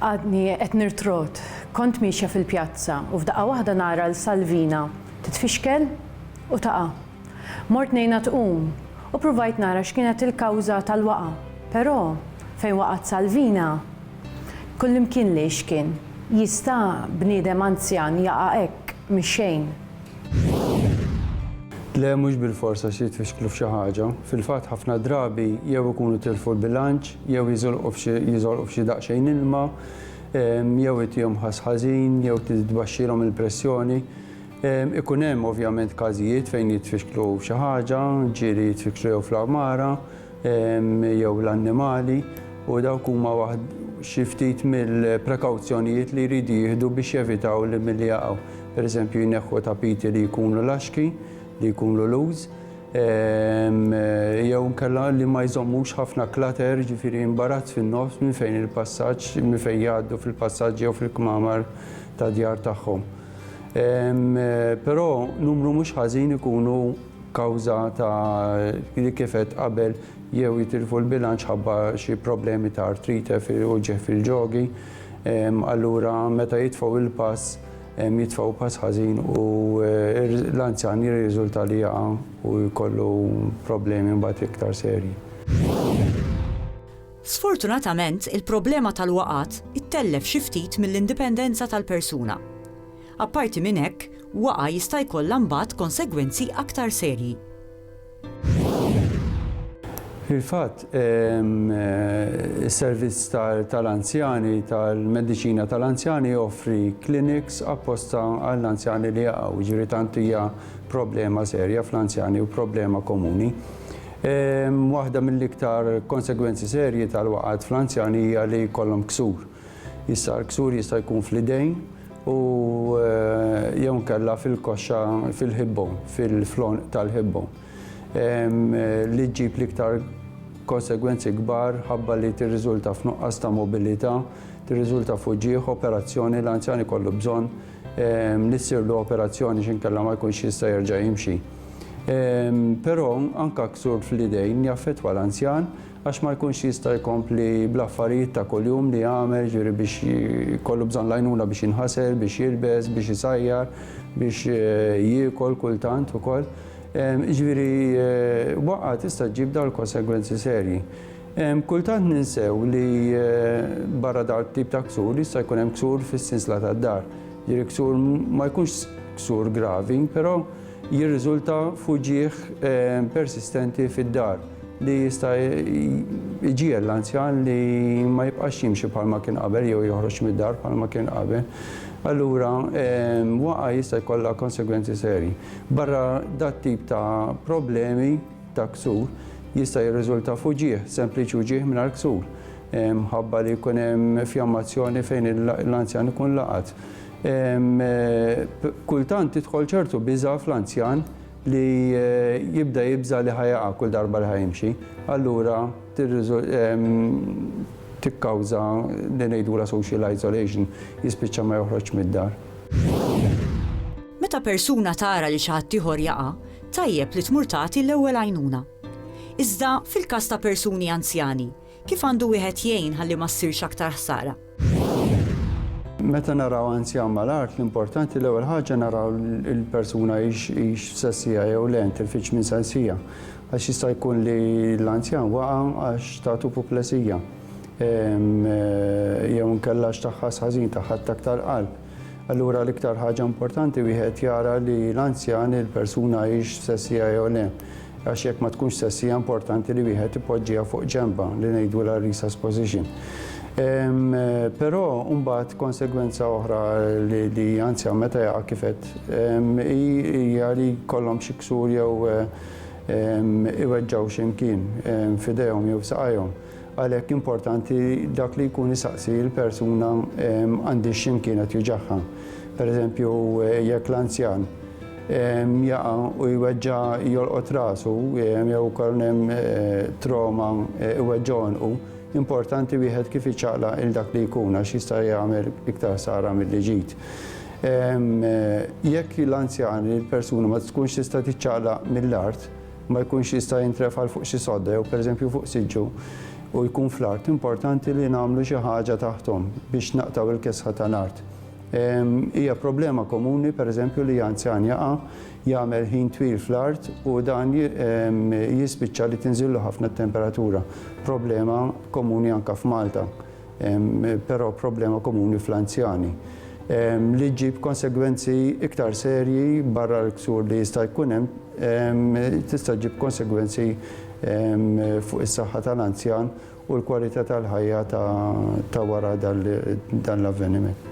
Għadni qed nirtrot, kont miexja fil-pjazza u f'daqqa waħda nara 'l Salvina titfixkel u taqa'. Mort ngħinha tqum u pruvajt nara x'kienet il-kawża tal-waqgħa, però fejn waqgħet Salvina kullimkien lejx kien jista' bniedem anzjan jaqa' hekk mix-xejn. Le mhux bilfors għax jitfixklu f'xi ħaġa. Fil-fatt ħafna drabi jew ikunu tilfu l-bilanċ, jew jiżolqu f'xi jiżolqu f'xi daqsxejn ilma, jew itihom ħass ħażin, jew titbaxxilhom il-pressjoni. Ikun hemm ovvjament każijiet fejn jitfixklu xi ħaġa, ġieli jitfixklu jew fl-għamara, jew l-annimali, u dawk huma waħd xi ftit mill-prekawzjonijiet li jridu jieħdu biex jevitaw li milli jaqgħu. Pereżempju, jneħħu tapiti li jkunu laxki, li jkunu loose, ehm, jew inkella li ma jżommux ħafna klater, ġifieri imbarazz fin-nofs minn fejn il-passaġġ, minn fejn jgħaddu fil-passaġġ jew fil-kmamar ta' djar tagħhom. Ehm, però numru mhux ħażin ikunu kawża ta' li kifet qabel jew jitilfu l-bilanċ ħabba xi problemi ta' artrite u ġeħ fil-ġogi, ehm, allura meta jitfgħu l-pass jitfgħu pass ħażin u l-anzjan jirriżulta li jaqa' u jkollu problemi mbagħad iktar serji. Sfortunatament, il-problema tal-waqgħat ittellef xi ftit mill-indipendenza tal-persuna. Apparti minn hekk, waqgħa jista' jkollha mbagħad konsegwenzi aktar serji. Fil-fatt, is-servizz tal-anzjani tal-mediċina tal-anzjani joffri kliniks apposta għall-anzjani li jaqgħu, jiġifieri tant hija problema serja fl-anzjani u problema komuni. Waħda mill-iktar konsegwenzi serji tal-waqgħat fl-anzjani hija li jkollhom ksur. Issa l-ksur jista' jkun fl-idejn, u jew inkella fil-koxxa fil-ħibbu, fil-flonq tal-ħibbu, li ġġib l-iktar konsegwenzi kbar ħabba li tirriżulta f'nuqqas ta' mobilità, tirriżulta f'uġigħ, operazzjoni, l-anzjan ikollu bżonn li ssirlu operazzjoni x'inkella ma jkunx jista' jerġa' jimxi. Però anke ksur fl-idejn jaffettwa l-anzjan Għax ma jkunx jista' jkompli bl-affarijiet ta' kuljum li jagħmel, jiġifieri biex jkollu bżonn l-għajnuna biex jinħasel, biex jilbes, biex isajjar, biex jiekol kultant ukoll. Jiġifieri waqgħa tista' ġġib dawn il-konsegwenzi serji. Kultant ninsew li barra dan it-tip ta' ksur jista' jkun hemm ksur fis-sinsla tad-dar. Jiġifieri ksur ma jkunx ksur gravi, però jirriżulta f'uġigħ persistenti fid-dar li jista' jġiegħel l-anzjan li ma jibqax jimxi bħalma kien qabel jew joħroġ mid-dar bħalma kien qabel. Allura waqa' jista' jkollha konsegwenzi serji. Barra dat tip ta' problemi ta' ksur jista' jirriżulta f'uġigħ, sempliċi uġigħ mingħajr ksur, mħabba li jkun hemm fjammazzjoni fejn l-anzjan ikun laqat. Kultant tidħol ċertu biża' fl-anzjan li jibda jibża' li ħa jaqa' kull darba li ħa jimxi. Allura tikkawża li ngħidulha social isolation, jispiċċa ma joħroġx mid-dar. Meta persuna tara li xi ħaddieħor jaqa', tajjeb li tmur tagħti l-ewwel għajnuna. Iżda fil-każ ta' persuni anzjani, Kif għandu wieħed jgħin ħalli ma ssirx aktar ħsara? Meta naraw anzjan mal-art, l-importanti l-ewwel ħaġa naraw il-persuna hix sessija jew le, tilfitx minn sensija. Għax jista' jkun li l-anzjan waqa' għax tagħtu puplesija. Ehm, eh, jew nkella x'taħħas ħażin, taħħa attak tal-qalb. Allura l-iktar ħaġa importanti wieħed jara li l-anzjan il-persuna hix sessija jew le. Għax jekk ma tkunx sessija importanti li wieħed ipoġġiha fuq ġenba li ngħidu la resus position. Ehm, però mbagħad konsegwenza oħra li, li anzjan meta jaqa' kifet ehm, hija li kollhom xi ksur jew ehm, iweġġaw x'imkien f'idejhom jew saqajhom. Għalhekk importanti dak li jkun isaqsi l-persuna għandix x'imkienet juġagħha. Pereżempju, jekk l-anzjan jaqa' u jweġġa' jolqot rasu jew ukoll hemm troma iweġġa' għonqu, importanti wieħed kif iċaqlaq il dak li jkun għax jista' jagħmel iktar ħsara milli ġid. Jekk l-anzjan, il-persuna ma tkunx tista' tiċċaqlaq mill-art, ma jkunx jista' jintrefa' 'l fuq xi sodda jew pereżempju fuq siġġu u jkun fl-art, importanti li nagħmlu xi ħaġa taħthom biex naqtgħu l-kesħa tal-art. Hija problema komuni pereżempju li anzjan jaqa', jagħmel ħin twil fl-art u dan jispiċċa li tinżillu ħafna t-temperatura, problema komuni anke f'Malta. però problema komuni fl-anzjani, li ġġib konsegwenzi iktar serji barra l-ksur li jista' jkun hemm, tista' ġġib konsegwenzi fuq is-saħħa tal-anzjan u l-kwalità tal-ħajja ta' wara dan l-avveniment.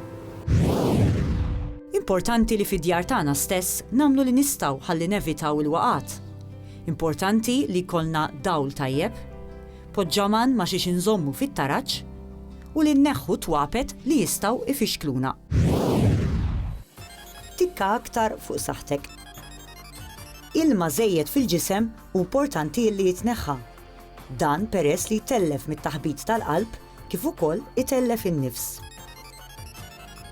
Importanti li fid-djar tagħna stess nagħmlu li nistgħu ħalli nevitaw il-waqgħat. Importanti li jkollna dawl tajjeb. Poġġaman ma' xiex inżommu fit-taraġ u li nneħħu twapet li jistgħu ifixkluna. Tikka aktar fuq saħħtek. Ilma żejjed fil-ġisem hu mportanti illi jitneħħa. Dan peress li jtellef mit-taħbit tal-qalb kif ukoll itellef in-nifs.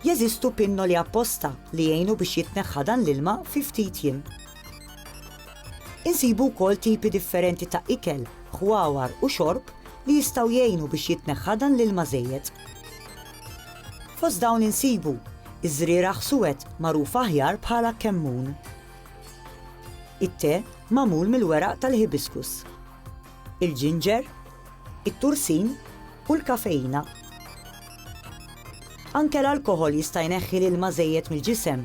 Jeżistu pinnoli apposta li jgħinu biex jitneħħa dan l-ilma fi ftit jiem. Insibu wkoll tipi differenti ta' ikel, ħwawar u xorb li jistgħu jgħinu biex jitneħħa dan l-ilma żejjed. Fost dawn insibu, iż-żrieragħ suwed magħruf aħjar bħala kemmun. It-te magħmul mill-weraq tal-hibiscus. Il-ġinġer, it-tursin u l-kafeina. Anke l-alkoħol jista' jneħħi l-ilma żejjed mill-ġisem.